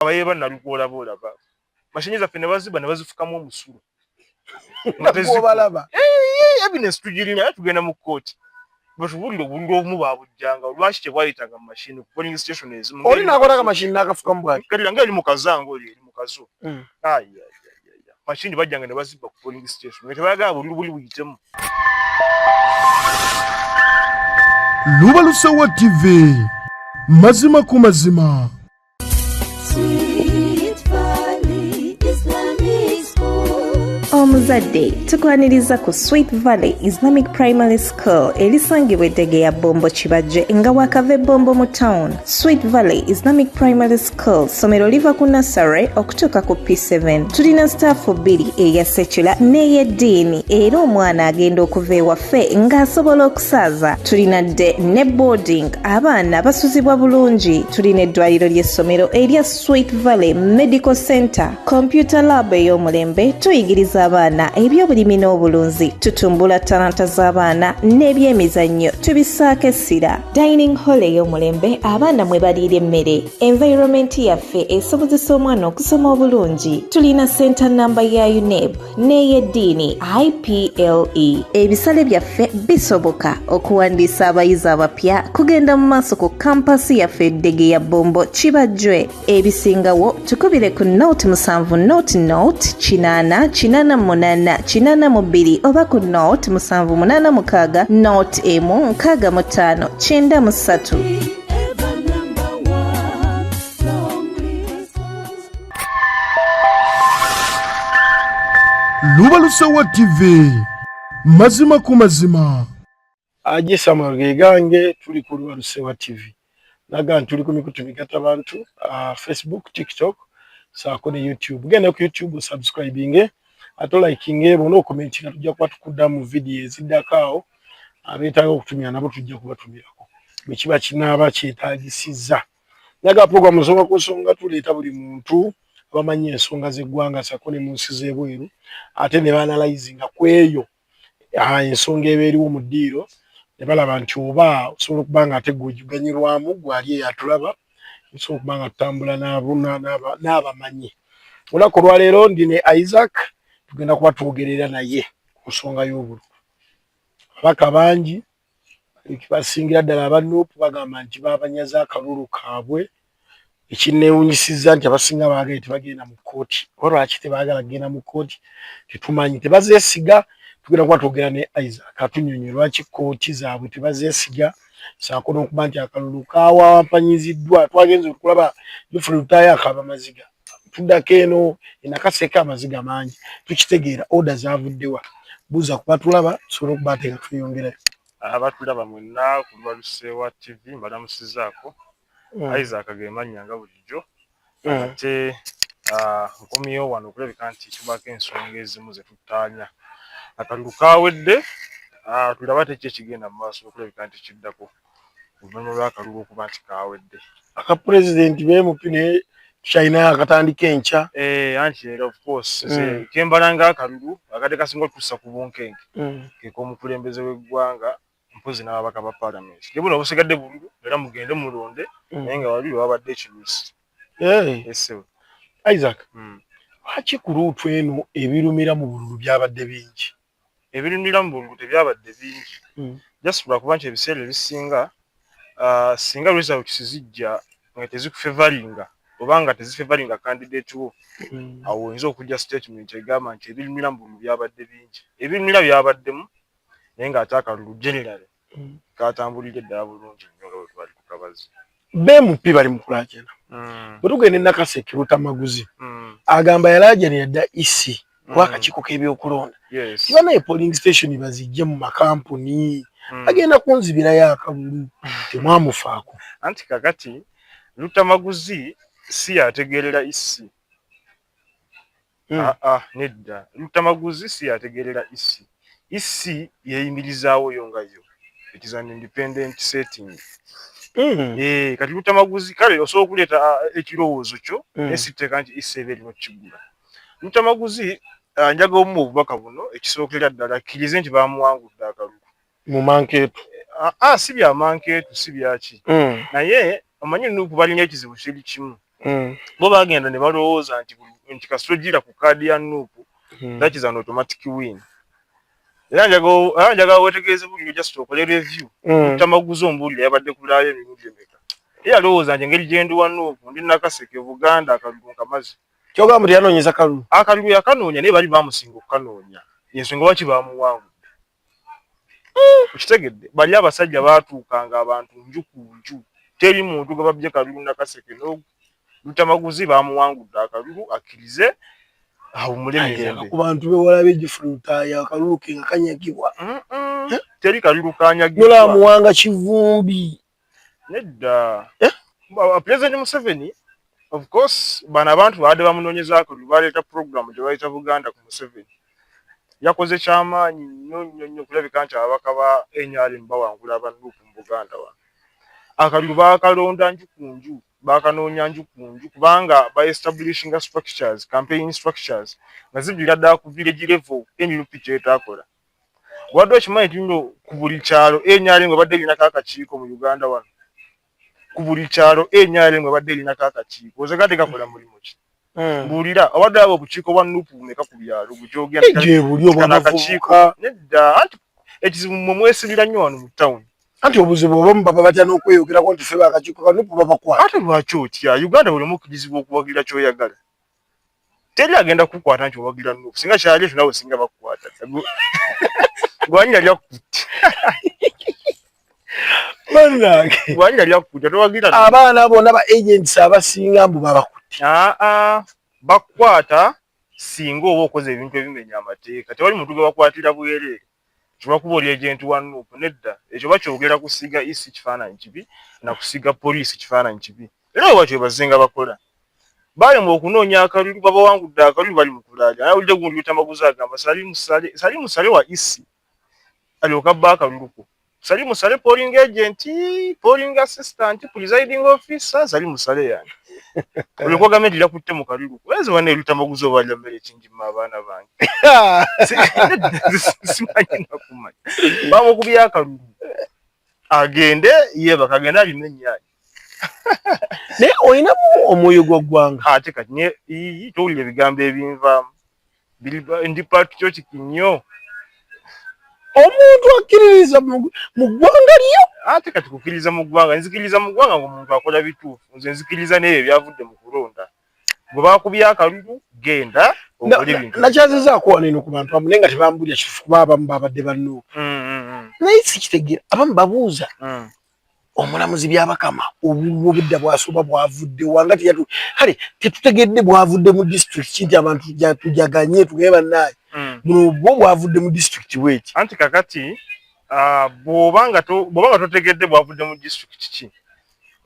abaye bana lugola bola ba mashinyi za fene baziba ne bazifuka mu musuru ngateziku balaba eh evidence tujirina ya tugenda mu court but wuli lo wuli omu ba bujanga lwashi te bwali taga machine polling station ezi mu oli nakola ka machine naka fuka mu bwali kali ngeli mu kazango oli mu kazo mm. ay ay ay ay machine bajanga ne baziba ku polling station ngete baga wuli wuli witemu Lubalusewa TV mazima ku mazima omuzadde tukwaniriza ku sweet valley islamic primary school erisangibwa eddege ya bombo kibajje nga wakava ebombo mu town sweet valley islamic primary school somero liva ku nassary okutuuka ku p7 tulina sitaafu bbiri eya sekula n'ey'eddiini era omwana agenda okuva ewaffe ng'asobola saaza tulina dde ne boarding abaana basuzibwa bulungi tulina eddwaliro ly'essomero erya sweet valley medical center computer lab ey'omulembe tuyigiriza abaana eby'obulimi n'obulunzi tutumbula talanta z'abaana n'ebyemizannyo tubisaako essira dining hall ey'omulembe abaana mwe baliira emmere environment yaffe esobozesa omwana okusoma obulungi tulina center namba ya uneb n'ey'eddiini iple ebisale byaffe bisoboka okuwandiisa abayizi abapya kugenda mu maaso ku kampasi yaffe eddege ya bombo kibajjwe ebisingawo tukubire ku not musanvu not not kinaana kinaana munaana kinaana mu bbiri oba ku not musanvu munaana mukaaga not emu nkaaga mu ttaano kyenda mu ssatu lubalusewa tv mazima ku mazima agisama gegange tuli ku lubalusewa tv naga ntuli ku mikutu migata bantu uh, facebook tiktok saako ne youtube genda ku youtube subscribinge ate olikinge bona okumentinga tujja kuba tukuddamu vidiyo eziddako awo abeetaaga okutumira nabo tujja kubatumira bwekiba kinaaba kyetagisiza naye ga program nsonga ku nsonga tuleeta buli muntu abamanyi ensonga z'eggwanga sako ne mu nsi z'ebweru ate ne baanalayizinga ku eyo ah, ensonga eba eriwo mu ddiiro ne balaba nti oba osobola okuba nga ate gweganyirwamu gwali eyatulaba osobola okuba nga tutambula n'abamanyi olunaku olwaleero ndi ne isaac tugenda kuba twogerera naye ku nsonga y'obululu ababaka bangi basingira ddala aba nup bagamba nti babanyaza akalulu kaabwe ekinneewunyisizza nti abasinga baagaye tebagenda mu kkooti oba lwaki tebaagala kugenda mu kkooti tetumanyi tebazeesiga tugenda kuba twogera ne isaac atunyonyo lwaki kkooti zaabwe tebazeesiga saako n'okuba nti akalulu kawampanyiziddwa twagenze okulaba jofre lutaaya akaaba maziga tudako eno enakaseka amaziga mangi tukitegeera oda zavuddewa buza kubatulaba tusobole okubateka tweyongerayo abatulaba mwenna kulubalusewa tv mbalamusizaako hmm. isaac gemanya nga bulijjo hmm. ate ah, nkomyewo wano okulabika nti tubaako ensonga ezimu zetutaanya akalulu kawedde ah, tulaba tekyo ekigenda mu maaso okulabika nti kiddako oluvannyuma lw'akalulu okuba nti kaawedde aka pulezidenti beemupi naye tukyalinayo akatandika enkya eh, anti era ofcourse mm. kembala nga akalulu akadde kasinga otussa ku bunkenke mm. kek'omukulembeze w'eggwanga mpozi n'ababaka ba palamenti ne buno obusigadde bululu era mugende mulonde mm. naye nga wabiri wabadde ekirusi eh. isaac lwaki ku luutu eno ebirumira mu bululu byabadde bingi Ebirundira mu bululu tebyabadde bingi hmm. just lwakuba nti ebiseera ebisinga uh, singa results zijja nga tezikufevalinga oba nga tezifevalinga candidate wo hmm. awo oyinza okujja statement egamba nti ebirundira mu bululu byabadde bingi ebirundira byabaddemu naye ng'ate akalulu generally mm. katambulidde ddala bulungi nnyo nga bwetwali ku kabazi bmp bali mukulaajana mm. bwetugenda enakaseke lutamaguzi mm. agamba yalaajanira dda isi e kuba akakiiko k'ebyokulonda tibana e polling station bazijje mu makampuni agenda kunzibirayo akalulu temwamufaako anti kakati lutamaguzi si yategeerera isi e Hmm. Ah, ah, nedda lutamaguzi si yategeerera isi isi yeeyimirizaawo yo nga yo it is an independent setting hmm. eh, kati lutamaguzi kale osobola okuleeta ah, ekirowoozo kyo hmm. naye sitteeka nti isi eba erina okukigula lutamaguzi njaga omu obubaka buno ekisookera ddala akkirize nti baamuwangudde akalulu mu mankeetu ah, ah, si bya mankeetu si byaki mm. naye omanyi nuku balina ekizibu kiri kimu mm. bo bagenda ne balowooza nti nti kasita ogira ku kaadi ya nuku mm. that is an automatic win era njagala wetegeeze buliro just okole review mm. tamaguzi ombuulira yabadde kulaayo emirundi emeka ye alowooza nti engeri gyendi wa nuku ndi nakaseke buganda akalulu nkamazi kyogamba nti yanoonyeza kalulu akalulu yakanoonya naye bali bamusinga okukanoonya yensonga waki bamuwangu okitegedde bali abasajja baatuukanga abantu nju ku nju teri muntu gwe babbye kalulu nakaseke nolutamaguzi baamuwangudde akalulu akkirize awumule mirembe ku bantu bewala begifulutaaya akalulu ke nga kanyagibwa teri kalulu kanyagibwa amuwanga kivumbi Nedda. Eh? President Museveni of course bano abantu baade bamunonyezaako baleeta program gyebayita buganda ku museveni yakoze kyamaanyi nnyo nnyo nnyo kulabika nti ababaka ba nrm bawangula abanuupu mu buganda wano akalulu baakalonda nju ku nju baakanoonya nju ku nju kubanga ba establishinga structures campaign structures nga ziviira ddala ku village level nup kyetaakola wadde okimanyi nti no ku buli kyalo enyale nga badde linako akakiiko mu uganda wano ku buli kyalo enyale nga badde linako akakiiko oze gade gakola mulimu ki hmm. mbuulira awadde abo obukiiko bwa nupu bumeka ku byalo bujogendakakiiko nedda anti ekizibu mwe mwesibira nnyo wano mu tawuni anti obuzibu obamu baba batya n'okweyogerako nti fe bakakiiko kanupu babakwata ate lwaki otya uganda buli omu kizibu okuwagira kyoyagala teri agenda kukwata nti owagira nup singa kyali ekyo nawe singa bakukwata gwanya lyakukutte gwanya lyakukutte towagira abaana bona ba agents abasinga mbu babakutte aa ah, ah. bakukwata singa oba okoze ebintu ebimenya amateeka tewali muntu gwe bakwatira bwereere Kiwakuba oli agent wa Nup nedda ekyo bakyogera kusiga EC kifaananyi kibi na kusiga poliisi kifaananyi kibi era bwe batyo bwe bazzenga bakola. Balemwa okunoonya akalulu babawangudde akalulu bali mu kulaaja. Nawulidde gundi Lutamaguzi agamba Salim Saleh Salim Saleh wa EC alyoke abbe akalulu ko. Sali musale polling agent, polling assistant, presiding officer, sali musale yani. Ulikuwa game dila kutte mu kalilu. Wezi wane luta maguzo wala mbele chinji mabana bangi. Simanyi na kumani. Bamu kubia kalulu. Agende, yeba kagenda limenye yani. naye olinamu omwoyo gwa ggwanga ate kati ne towulira ebigambo ebinvaamu ndi patriotic nnyo omuntu akkiririza mu ggwanga lyo ate kati kukkiriza mu ggwanga nzikiriza mu ggwanga ngaomuntu akola bituufu nze nzikiriza naebyo ebyavudde mu kulonda gwe bakubya akalulu genda nakyaziza akuwaneno ku bantu amu naye nga tebambulira kitufu kuba abamu babadde bannuuka mm, mm, mm. naye sikitegeera abamu babuuza omulamuzi byabakama obululu obudda bwasooba bwavudde wanga teyatu kale tetutegedde bwavudde mu district kinti abantu tujaganye tugaye bannaye hmm. buno bwo bwavudde mu district bweki anti kakati ah, bwoba nga totegedde bwavudde mu district ki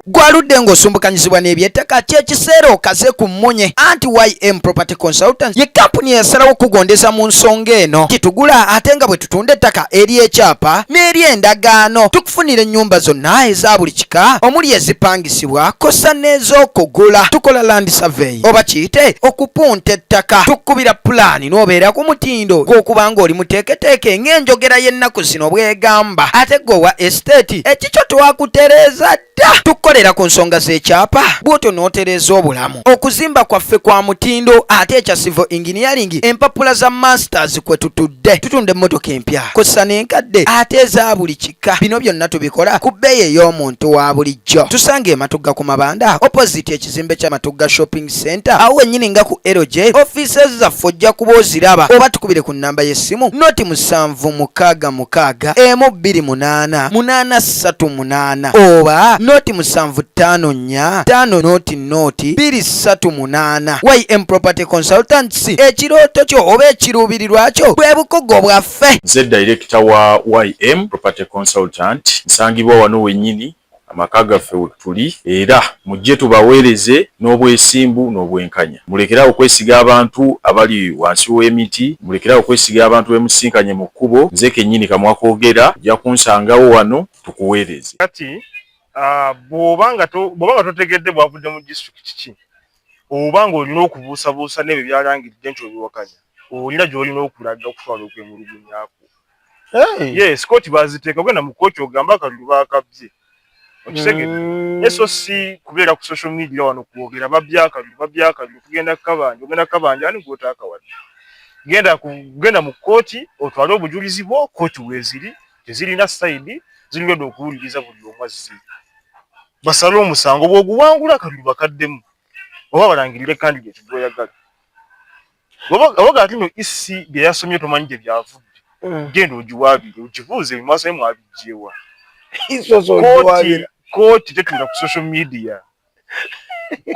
gwaludde ng'osumbukanyizibwa n'ebyettaka kyekiseera okaze ku mmunye anti ym property Consultants ye kampuni eyasalawo okugondeza mu nsonga eno gitugula ate nga bwe tutunda ettaka ery'ekyapa n'eri endagaano tukufunira ennyumba zonna eza buli kika omuli ezipangisibwa kosa n'ez'okugula tukola land survey oba kiyite okupunta ettaka tukubira pulaani n'obeera ku mutindo gw'okuba ng'oli muteeketeeke ng'enjogera y'ennaku zino bw'egamba ate gwe owa esiteeti ekikyo twakutereeza dda tukukolera ku nsonga z'ekyapa bw'otyo n'otereeza obulamu okuzimba kwaffe kwa mutindo ate ekya civil engineering empapula za masters kwe tutudde tutunda emmotoka empya kosa n'enkadde ate eza buli kika bino byonna tubikola ku bbeeyi ey'omuntu wa bulijjo tusanga ematugga ku mabanda opposite ekizimbe kya matugga shopping center awo wennyini nga ku lj offices zaffe ojja kuba oziraba oba tukubire ku nnamba y'essimu noti musanvu mukaaga mukaaga emu bbiri munaana munaana ssatu munaana oba noti musanvu ttaano nnya ttaano noti noti biri ssatu munaana ym property consultants ekirooto kyo oba ekiruubirirwa kyo bwe bukugo bwaffe nze dayirekita wa ym property consultant nsangibwa wano wennyini amaka gaffe wetuli era mujje tubaweereze n'obwesimbu n'obwenkanya. Mulekere awo okwesiga abantu abali wansi w'emiti, mulekere awo okwesiga abantu be musisinkanye mu kkubo. Nze kennyini kamwa koogera, ojja kunsangawo wano tukuweereze. Kati bw'oba nga totegedde bwavudde mu disitulikiti ki, oba ng'olina okubuusabuusa n'ebyo by'alangiridde nti obiwakanya, olina gy'olina okulaga okutwala okwemulugunya kwo. ye sikoti baziteeka ogenda mu kkooti ogamba akalulu baakabbye okitegedde mm. naye so si kubeera ku social media wano kwogera babbye akalulu babbye akalulu kugenda kukabanja ogenda kukabanja ani gwotaakawadde genda kugenda mu kkooti otwale obujulizi bwo kkooti weeziri tezirina sayidi zirigenda okuwuliriza buli omu azzi basale omusango bwoguwangula akalulu bakaddemu oba balangirire kandidati gwoyagala obaga ati no isi e byeyasomye tomanyi gye byavudde mm. genda ogiwaabire ogibuuze ebimaaso ye mwabijjeewa kooti tetunda ku social media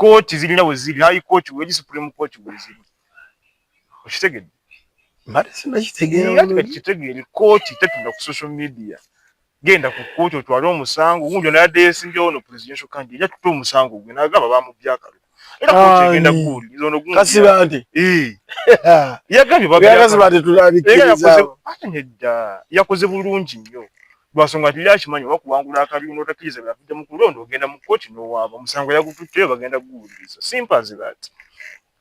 kooti zirina weziri hayi kooti weri supreme kooti weziri okitegedde kitegeere kooti tetunda ku social media genda ku kkooti otwale omusango gundi ono yadde yesimbyewo no presidential candidate eja tuta omusango gwe nagamba bamubye akalulu era kkooti egenda kuwuliriza ono gundi kasibante yagambye babakasibante tulabikirizawo ate nedda yakoze bulungi nnyo lwasonga nti yakimanyi oba kuwangula akabiina otakiriza byavudde mu kulonda ogenda mu kkooti nowaaba omusango yagututteyo bagenda kuguwuliriza simpanzi that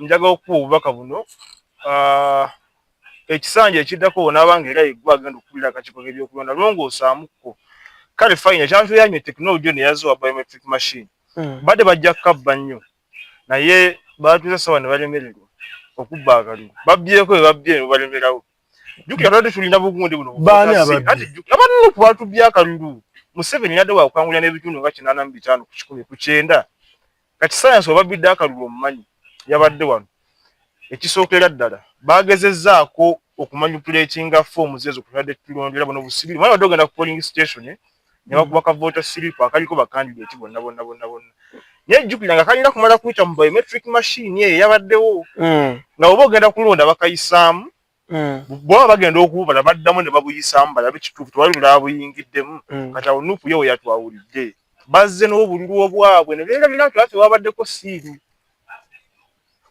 njagala okukuba obubaka buno ah, ekisanja ekiddako wonaabanga era yeggwa agenda okukulira akakiiko k'ebyokulonda longoosaamukko kale fayina ekyantuyamye tekinologi ono eyaziwa biometric machine hmm. badde bajja kukabba nnyo naye baatuuza sawa ne balemererwa okubba akaliro babbyeko bye babbye ne balemerawo jukira twali tulina bugundi buno abanene kubatubya akalulu museveni yadde wakukangulira n'ebitundu nga kinaana mu bitaano ku kikumi ku kyenda kati sayansi wababidde akalulu omumanyi yabadde wano ekisookera ddala bagezezaako okumanyupulatinga foomu zezo kutadde tulondera bona obusibiri mwana badde ogenda ku polling station eh? nebakuba ka vota siripu akaliko bakandideti bonna bonna bonna bonna naye jjukira nga kalina kumala kuyita mu biometric machine eyo yabaddewo hmm. nga oba ogenda kulonda bakayisaamu Mm. bwaba bagenda okububala baddamu ne babuyisaamu balabe kituufu tewali mulala buyingiddemu mm. kati awo nupu yewo yatwawulidde bazze n'obululu obwabwe ne beerabira nti afe wabaddeko siiru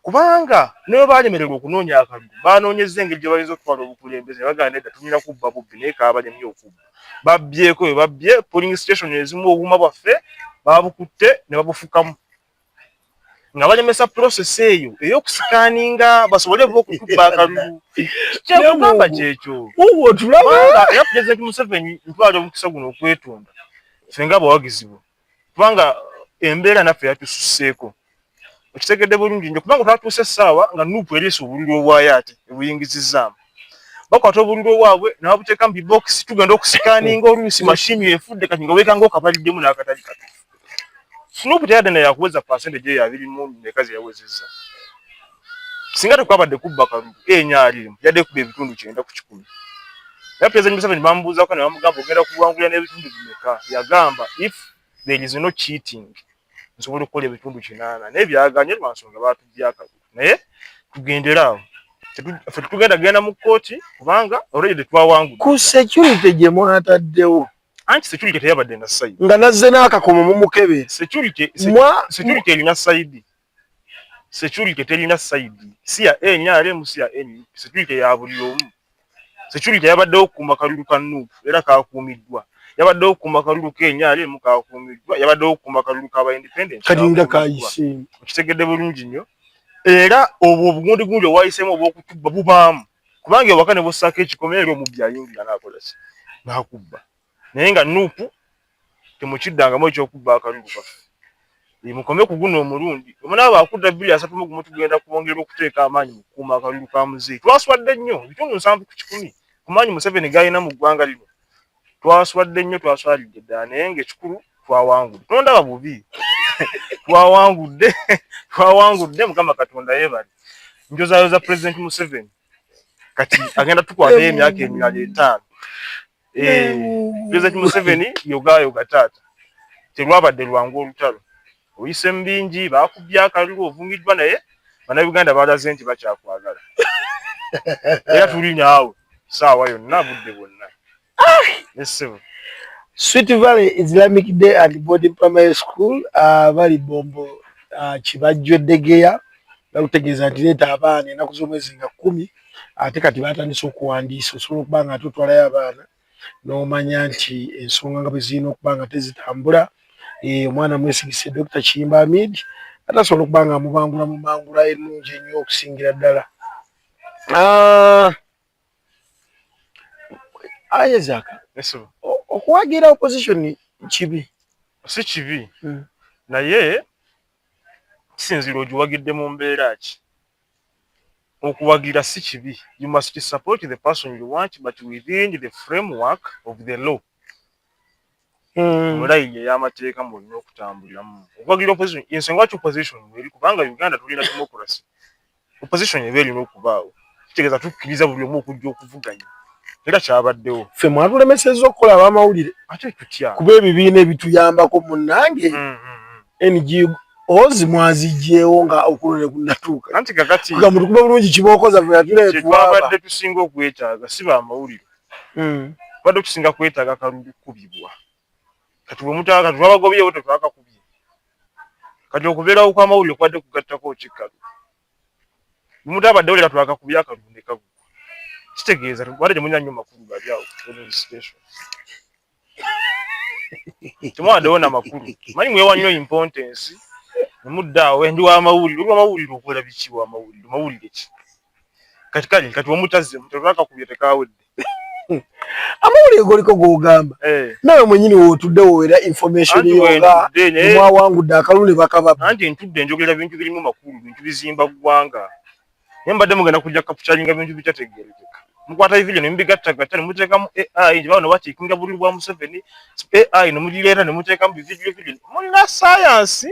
kubanga ne bwe baalemererwa okunoonya akalulu baanoonyezza engeri gye bayinza okutwala obukulembeze ne bagamba nedda tulina kubba bubbi naye kaabalemi okubba babbyeko bwe babbye polling station ezimu obuuma bwaffe baabukutte ne babufukamu nga balemesa process eyo eyokusikaaninga basobole okukubba akalulu kyekugamba kyekyo era president museveni ntwala omukisa guno okwetonda fenga abawagizibwa kubanga embeera naffe yatususseeko okitegedde bulungi nyo kubanga twatuuse essaawa nga nupu eriisa obululu obwayo ate ebuyingizizzaamu bakwata obululu obwabwe nababuteeka mu bibokisi tugenda okusikaaninga oluusi mashini efudde kati nga weekanga okabaliddemu n'akatali katufu Snoop teyadde naye yakuweza percentage eyo abiri mu meka ze yawezezza. Singa tekwabadde kubba kalulu enya alimu yadde kuba ebitundu kyenda ku kikumi. Naye President Museveni bamubuuzako ne bamugamba ogenda kuwangulira n'ebitundu bimeka? Yagamba if there is no cheating nsobola okukola ebitundu kinaana naye byaganye lwa nsonga baatujja akalulu. Naye tugendere awo ffe tetugenda genda mu kkooti kubanga already tetwawangudde. Ku security gye mwataddewo anti security teyabadde na side nga nazze n'akakomo mumukebe security security erina side security terina side si ya nrm si ya nup security ya buli omu security yabaddewo okukuuma kalulu ka nup era kakuumiddwa yabaddewo okukuuma kalulu ka nrm kakuumiddwa yabaddewo okukuuma kalulu kaba independent kalinga kayise okitegedde bulungi nnyo era obwo obugundigunji obwayisemu obwokutubba bubaamu kubanga ewaka ne bwossaako ekikomera era omubbi ayingira n'akola ki n'akubba naye nga nuupu temukiddangamu ekyokubba akalulu kaffe mukome ku guno omulundi omunaaba akudda bbiri asatu mu gumu tugenda kwongera okuteeka amaanyi mu kukuuma akalulu ka muzeeyi twaswadde nnyo ebitundu nsanvu ku kikumi ku maanyi museveni g'alina mu ggwanga lino twaswadde nnyo twaswalidde ddala naye ngaekikulu twawangudde tondaba bubi twawangudde twawangudde mukama katonda yebali njozayoza president museveni kati agenda tukwata emyaka emirala etaano eh, president museveni yogayoga taata terwabadde lwangu olutalo oyise mu bingi bakubbye akalulu ovumiddwa naye bannayuganda balaze nti bakyakwagala era tuli naawe saawa yonna budde bwonna nesebo sweet valley islamic day and boarding primary school uh, bali bombo uh, kibajjo eddegeya bakutegeeza nti leeta abaana enaku z'omwezi nga kkumi ate kati batandise okuwandiisa osobola okuba nga ate otwalayo abaana n'omanya nti ensonga nga bwe zirina okuba nga tezitambula eh, omwana mwesigise Dokita Kiyimba Amid ate asobola okuba nga amubangula mu mangula ennungi ennyo okusingira ddala ah, Isaac okuwagira opposition kibi si kibi hmm. naye kisinzira ogiwagidde mu mbeera ki okuwagira si kibi you must support the person you want but within the framework of the law mulayi hmm. ey'amateeka mulina okutambuliramu okuwagira opposition ensonga lwaki opposition eri kubanga uganda tulina democracy opposition eba erina okubaawo kitegeeza tukkiriza buli omu okujja okuvuganya era kyabaddewo ffe mwatulemesezza okukola abamawulire ate tutya kuba ebibiina ebituyambako munange hmm, hmm, NGOs mwazijjeewo nga okuno ne kunnatuuka anti kakati nga mutukuba bulungi kibookoza fe atuleetwabadde tusinga okwetaaga si ba mawulire hmm. tubadde tusinga kwetaaga kalulu kubibwa kati bwe mutaka kati twabagobyewo tetwakakubye kati okubeerawo kw'amawulire kubadde kugattako kikkalu bwe mutabadde wulira twakakubye akalulu ne kagwa kitegeeza tubadde temunya nnyo makulu gali awo special temwadewo na makulu manyi mwewa nnyo impontensi nemudda awo endi wamawulire oli wamawulire okola biki wamawulire mawulire ki kati kale kati wamutazzemu tebakakubye tekawedde amawulire goliko gogamba eh. nawe mwenyini wotudde wowera information yoga mwawangudde akalulu ne bakababa anti ntudde njogera bintu birimu makulu bintu bizimba ggwanga naye mbadde mugenda kujja kapucalinga bintu bitategeerekeka mukwata evideo ne mubigattagatta ne muteekamu ai nti bawo ne bakiikinga bululu bwa museveni ai ne mugireeta ne muteekamu bividiyo vidiyo mulina sayansi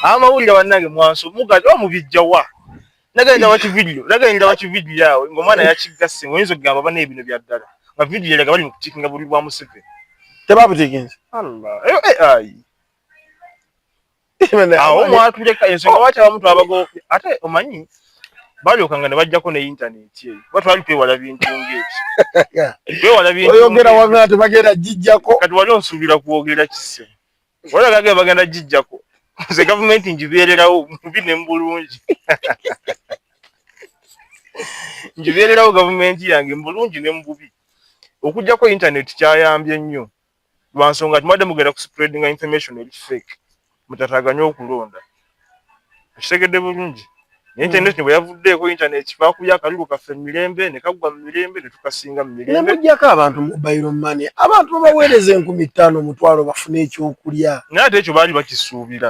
amawulire bannange mwansi omugazi oba mubijja wa nagenda waki vidiyo nagenda waki vidiyo awo ng'omwana yakigasse oyinza okugamba bana ebino bya ddala nga vidiyo eraga bali mu kukiikinga bululu bwa museveni tebabutiikinze ai awo mwatuleka ensonga lwaki abamu twabago ate omanyi balyokanga ne bajjako ne intaneti eyo kuba twali twewala bintu ngaebyo twewala bintuoyogera wagana tebagenda gijjako kati wali onsuubira kwogera kise olagage bagenda gijjako nze gavumenti ngibeererawo mubi ne mubulungi ngibeererawo gavumenti yange mubulungi ne mububi okujjako intaneti kyayambye nnyo lwa nsonga nti mubadde mugenda ku spreadinga information eri fake mutataganye okulonda okitegedde bulungi naye internet hmm. bwe yavuddeeko internet baakubya akalulu kaffe mu mirembe ne kaggwa mu mirembe ne tukasinga mu mirembe ne muggyako abantu mobile money abantu babaweereza enkumi ttaano omutwalo bafune ekyokulya naye ate ekyo baali bakisuubira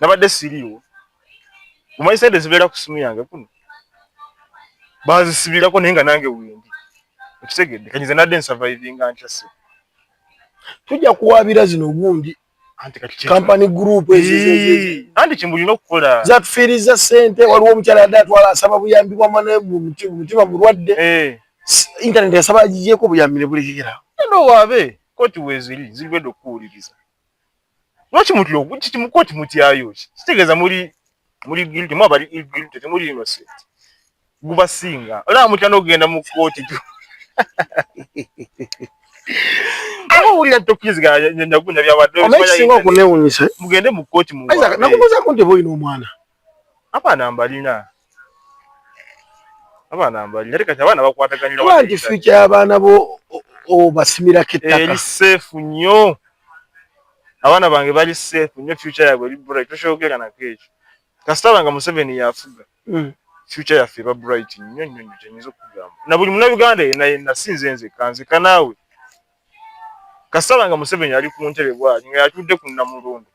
nabadde siriiwo omanyi sente zibeera ku simu yange kuno bazisibirako naye nga nange wendi okitegedde kanyize nadde nsavaivinga nkyase tujja kuwabira zino obundi kampani group anti kyemulina okukola zatufiiriza sente waliwo omukyala yadde atwala asaba buyambi bwamwana mutima mulwadde eh. intaneti yasaba agigyeko obuyambi nebulekekera enda owaabe koti weziri ziriwedde okukuwuliriza lwaki mutya kiti mukooti mutyayo kitegeeza muli muli guilty mwa bali guilty temuli innocent gubasinga olaba mutya n'okugenda mu kkooti owulira tokiriziganya nyagunya byabadde omanyi singa okunewunyisa mugende mu kkooti munakubuuzaako nti oba olina omwana abaana mbalina abaana mbalina kati abaana bakwataganira wangi future y'abaana bo obasimirako ettaka eri seefu nnyo abaana bange bali seefu nnyo future yabwe eri bright tokyogera nako ekyo kasita banga museveni yafuga hmm. future yaffe eba bright nnyo nnyo nnyo kyenyinza okugamba na buli munauganda yena yena si nze nzekka nzekka naawe kasala nga museveni ali ku ntebe bwali nga yatudde ku namulundu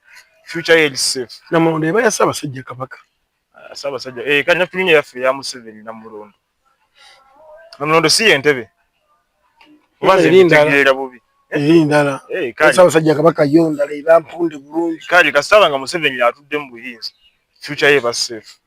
future ye safe namulundu eba yasaba sajja kabaka asaba ah, sajja eh kanya tulinye yafe ya museveni namulundu namulundu si entebe obaze ndala bubi eri eh, ndala eh kasala sajja kabaka yo ndala eba mpunde bulungi kali kasala nga museveni yatudde mu buyinzi future ye ba safe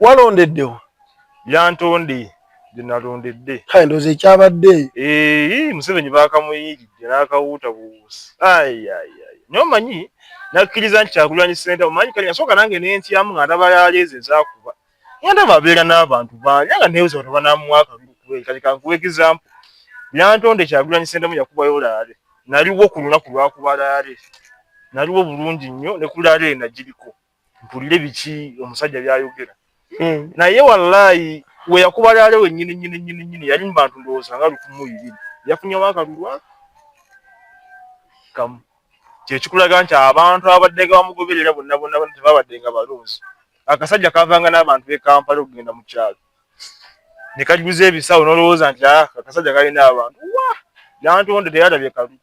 walondeddewa yantonde gyenalondedde kale ndoza ekyabadde ee museveni bakamuyiridde nakawuuta buwuusi ayaya nyo manyi nakkiriza nti kyakulwanya senta omanyi kale nasooka nange nentyamu nga ndaba yaleeze zakuba nga ndaba abeera n'abantu bangi nga nebuza bano banamuwa akalulu kuba kati kankuwa egizampu yantonde kyakulwanya sentamu yakubayo laale naliwo ku lunaku lwakuba laale naliwo bulungi nnyo ne ku laale ena giriko mpulire biki omusajja byayogera eh. naye wallahi weyakuba lyale wenyini nyini nyini nyini yali mubantu ndowooza nga lukumu ibiri yafunyewo akalulwa kamu kyekikulaga nti abantu abaddenga bamugoberera bonna bonna bonna tebabaddenga balonzi akasajja kavanga n'abantu bekampala okugenda mu kyalo ne kajuza ebisawo n'olowooza nti ah, akasajja kalina abantu wa yantonde teyalabye kalulu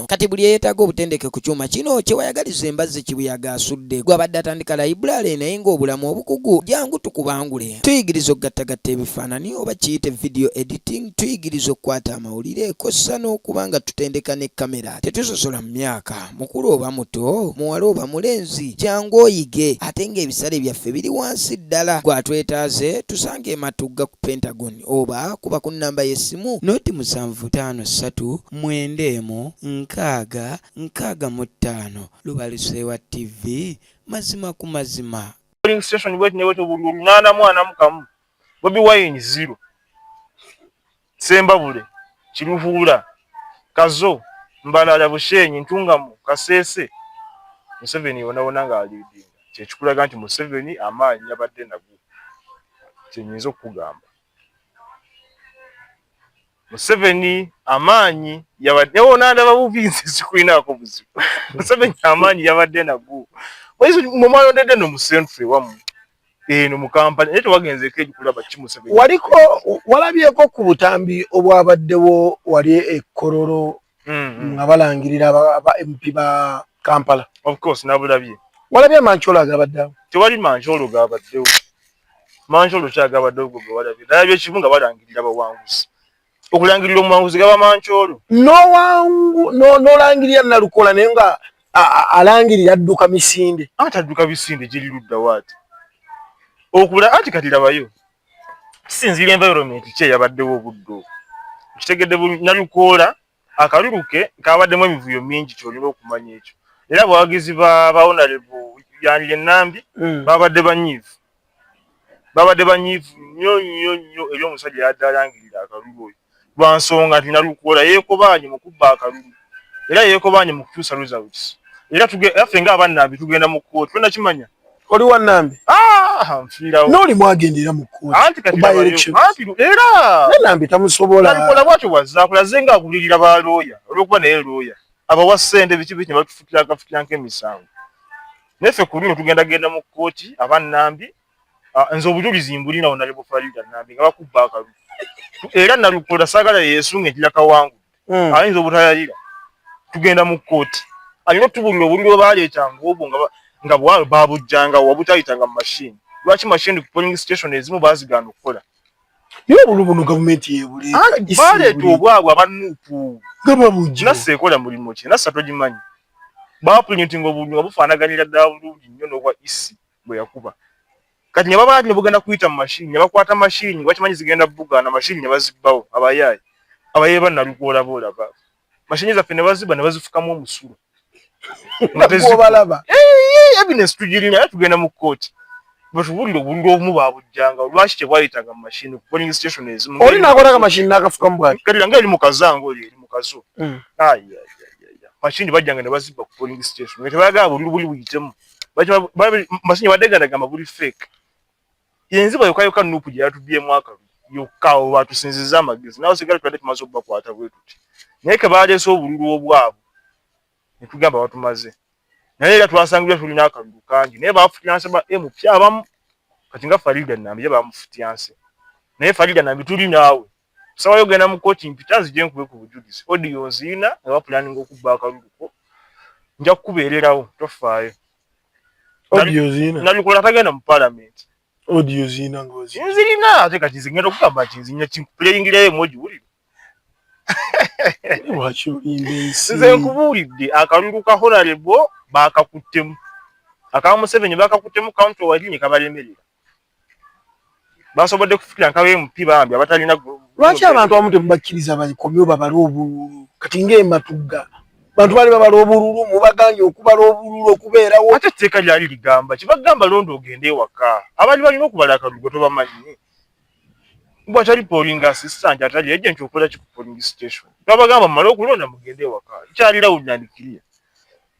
bino. Kati buli eyetaaga obutendeke ku kyuma kino kyewayagaliza embazzi kibuyaga asudde gwe abadde atandika layibulaale naye ng'obulamu obukugu jangu tukubangule. Tuyigiriza okugattagatta ebifaanani oba kiyite video editing, tuyigiriza okukwata amawulire kossa n'okuba nga tutendeka ne kamera. Tetusosola mu myaka, mukulu oba muto, muwala oba mulenzi, jangu oyige ate ng'ebisale byaffe biri wansi ddala. Gwe atwetaaze tusanga e Matugga ku Pentagon oba kuba ku nnamba y'essimu noti musanvu ttaano ssatu mwenda emu nkaaga nkaaga mu ttaano Lubaluseewa TV mazima ku mazima. polling station bwet ne bwetyo buli olunaana mwana mu kamu bobi wine zero sembabule kiruhuula kazo mbalala bushenyi ntungamu kaseese museveni yonawona nga aliidinga kyekikulaga nti museveni amaanyi yabadde nago kyenyinza okukugamba Museveni amaanyi yabadde wo nandaba buvinzi sikulinaako buzibu Museveni amaanyi yabadde nago mwe mwalondedde no mu century wamu eno mu Kampala naye tewagenzeeko egikulaba ki Museveni waliko walabyeko ku butambi obwabaddewo wali e Kololo mm-hmm. nga balangirira aba mp ba kampala ofcourse nabulabye walabye amancoolo agabaddewo tewali mancoolo gabaddewo mancoolo ki agabaddewo gwe gwe walabye nalabye kimu nga balangirira bawanguzi okulangirira omuwanguzi gaba mancoolo nolangirira nalukola naye nga alangirira adduka misinde ate adduka misinde giri luddawo ati okula anti kati labayo kisinziira environment ki eyabaddewo obudde obwo kitegedde nalukoola akalulu ke kabaddemu emivuyo mingi kyolina okumanya ekyo era abawagizi ba bawonarebu yanire nambi mm. babadde banyiivu babadde banyiivu nnyo nnyo nnyo eri omusajja yadde alangirira akalulu oyo lwa nsonga nti Nalukoola yeekobaanye mu kubba akalulu era yeekobaanye mu kukyusa results era ffe ng'abannambi tugenda mu kkooti tonakimanya oli wannambi ah, nfiirawo n'oli mwagenda era mu kkooti era nambi tamusobola Nalukoola bwatyo bwazakulaze nga agulirira ba looya olw'okuba naye looya abawa ssente biki biki ne batufukira akafukira nk'emisango naye ffe ku luno tugenda genda mu kkooti abannambi Ah, nze obujulizi mbulina wona lebufalida nambi nga bakubba akalu era nalukola sagala yesunga entila kawangu mm. ayinza obutayalira tugenda mu kkooti alina otubulira obuliro baleetanga obwo nga bwalo babujjanga wabutayitanga mu mashini lwaki mashini ku polling station ezimu bazigaana okukola naye obuliro buno gavumenti yebuleebaleeta ah, obwabwe abanuupu nga babujja nassa ekola mulimu ki nassa togimanyi baprintinga obuliro nga bufaanaganira ddala bulungi nnyo n'obwa isi e. gwe yakuba kati ne babala ne bugenda kuyita mu mashini ne bakwata mashini bakimanyi zigenda bugaana mashini ne bazibbawo abayaayi abayeeyi ba nalukoola boolaba mashini zaffe ne bazibba ne bazifukamu omusulo evidence tugirina era tugenda mu kkooti batubulire obululu obumu babujjanga lwaki tebwayitanga mu mashini polling station ezimu oli nakola mashini nakafukamu bwati kati nga eri mukazange oli eri mukazo hmm. mashini bajjanga ne bazibba ku polling station nga tebayagala bululu buli buyitemu masinyo wadde ganda gamba buli fake yenziba yokayoka nupu gye yatubyemu akalu yokka oba atusinziza amagezi nawe sigala tubadde tumaze okubakwata bwe tuti naye ke baleese obululu obwabwe ne tugamba batumaze naye era twasangibwa tulina akalulu kangi naye bafutyanse ba mp abamu kati nga farida nambi ye bamufutyanse naye farida nambi tuli naawe Sawa yogenda mu koti mpita nzije nkube ku bujulizi. Audio nzina nga bapulaninga okubba akalulu ko. Nja kukubeererawo tofaayo. Audio nzina. Nabikola tagenda mu parliament. Audio nzina ngozi. Nzirina ate kati nze ngenda okugamba nti nzinya kimpuleyingireyo emoji wulira. Lwaki olimba ensi? Nze nkubuulidde akalulu ka honorable baakakuttemu. Aka Museveni baakakuttemu county wali ne kabalemerera. basobodde kufukira nkawo empi bambi abatalina lwaki abantu abamu temubakkiriza bakomyo babale obululu kati ngaematugga bantu bali babala obululu mubaganye okubala obululu okubeerawo ate etteeka lyali ligamba kibagamba londa ogende ewaka abali balina okubala akalugo tobamanyi bwatali polling assistant atali agent okola ki ku polling station babagamba mumale okulonda mugende ewaka kyalirawo nandikiriya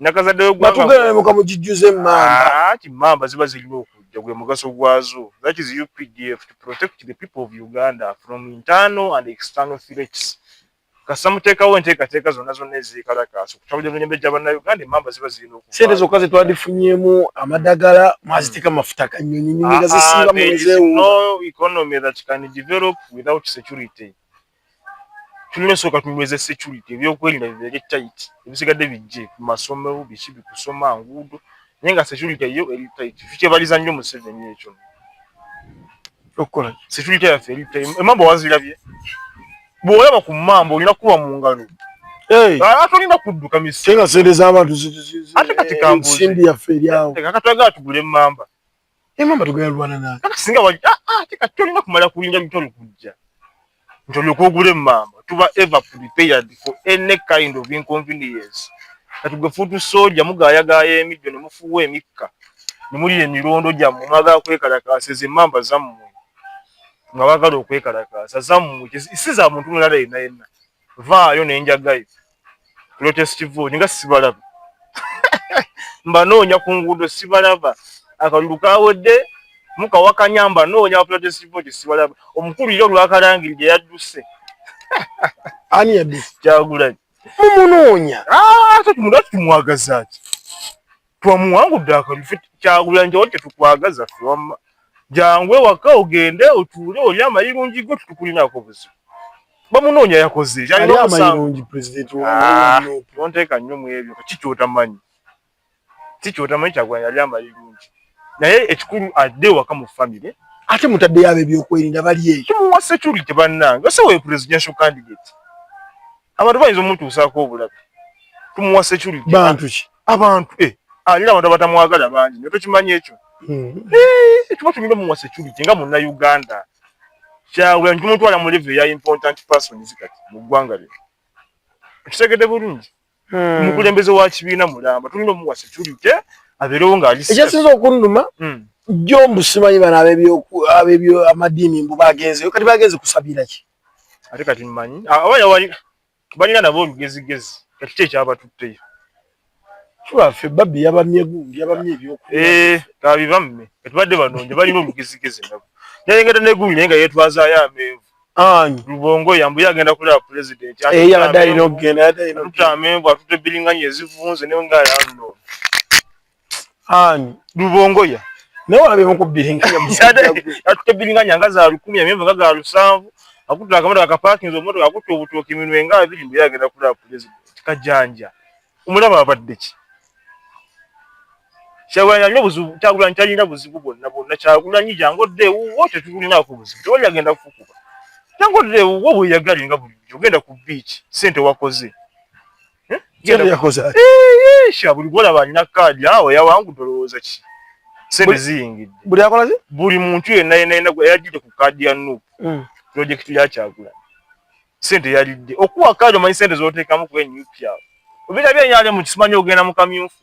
nakazadde wegwangaatugeemuka mugijjuza emmamba ti mmamba ziba zirina okujja gwe mugaso gwazo that is updf to protect the people of uganda from internal and external threats kasita muteekawo enteekateeka zonna zonna ezikalakaasa okutabulira emirembe gya bannayuganda emmamba ziba zirina oku sente zokka ze twadifunyemu amadagala mwaziteeka hmm. mafuta kanyonyi nyinyi nga ah, ah, zisiiba mu economy that can develop without security tulina sooka tunyweza security ebyokwerinda bibeere tight ebisigadde bijje ku masomero biki bikusoma nguudo naye nga security yo eri tight tukyebaliza nnyo museveni ekyo okukola security yaffe eri tight emamba wazirabye bw'olaba ku mamba olina kuba mu ngalo atolina kudduka misenga sente z'abantu ate kati kambuzi ensimbi yaffe eryawo kati twagala tugule emamba Ye mama tugenda lwana nani? Kati singa wali ah ah tika tolina kumala kulinda mutoni kujja. Mutoni okugule mama tuba ever prepared for any kind of inconvenience. Kati gwe futu soja mugaya gaya emiddo ne mufuwa emikka. Ne muli emirondo gya mu maga kwekalakaasa ze mamba zammwe. Nga bagala okwekalakaasa zammwe kisiza muntu mulala yenna yenna. vaayo nenjagayo lotest vote nga sibalaba mbanoonya ku nguudo sibalaba akalulu kawedde mukawakanya mbanoonya ba lotest vote sibalaba omukulu ira olwakalangiri gye yadduse ani yadduse kyagulanyi mumunoonya ah, ate tumulwaki tumwagazaki twamuwangudde akalulu fe kyagulanyi tewali kyetukwagaza fe wamma jangu ewaka ogende otuule oli amayirungi go tutukulinako buzibu bamunoonya yakoze kyalinaomusangonteeka ah, nnyo mu ebyo ki kyotamanyi ki kyotamanyi kyagulanyi yali amayirungi naye ekikulu adde ewaka mu famire ate mutaddeyo abo ebyokwerinda bali eyo kimuwa security bannange ose we presidential candidate abantu bayinza omutuusaako obulabe tumuwa security bantu ki abantu eh alira abantu abatamwagala bangi naye tokimanyi ekyo hmm. eh, ekiba tumira mu security nga munna uganda kyabula nti tumutwala mu live ya important persons kati mu ggwanga lyo ekitegede bulungi hmm. omukulembeze wa kibiina mulamba tulina omuwa security abeerewo ng'aliekyasinza okunuma hmm. jjo mbusimanyi bano abebyo amadiini mbu bagenzeyo kati bagenze kusabira ki ate kati mmanyi abayawali balina nabo olugezigezi kati kye kyabatutteyo ffe babbi yabamye gundi yabamye ebyokubibamme eh, kati badde banonja balina olugezigezi nabo nayengeda negundi naye nga yetwazayo amenvu ani lubongo yambuye agenda kulaba pulezidenti eyabadde eh, alina okugenda atutte amenvu atutte biringanya ezivunze naye nga yalno ani lubongoya naye walabe mukubbiringanyaatutebbiringanya nga za lukumi amenvu nga ga lusanvu akutte akamoto akapaakinza omumoto akutte obutooki minwe nga abiri mbuye agenda kulaba pulezidenti kajanja omulaba abadde ki kyagulanyi alina obuzibu kyagulanyi talina buzibu bwonna bwonna kyagulanyi jangu odde ewuwo tetulinaako buzibu tewali agenda kukuba jangu odde ewuwo bweyagale nga bulijjo ogenda ku biiki sente wakoze buli gwolaba alina kaadi awo yawangu tolowooza ki sente ziyingidde buli akola ki buli muntu yenna yenna yenna eyajjidde ku kaadi ya nup hmm. pulojekiti yakyagula sente yalidde okuwa kaadi omanyi sente zoteekamu kuba enup awo obira byenyalye mu kisimanyi ogenda mu kamyufu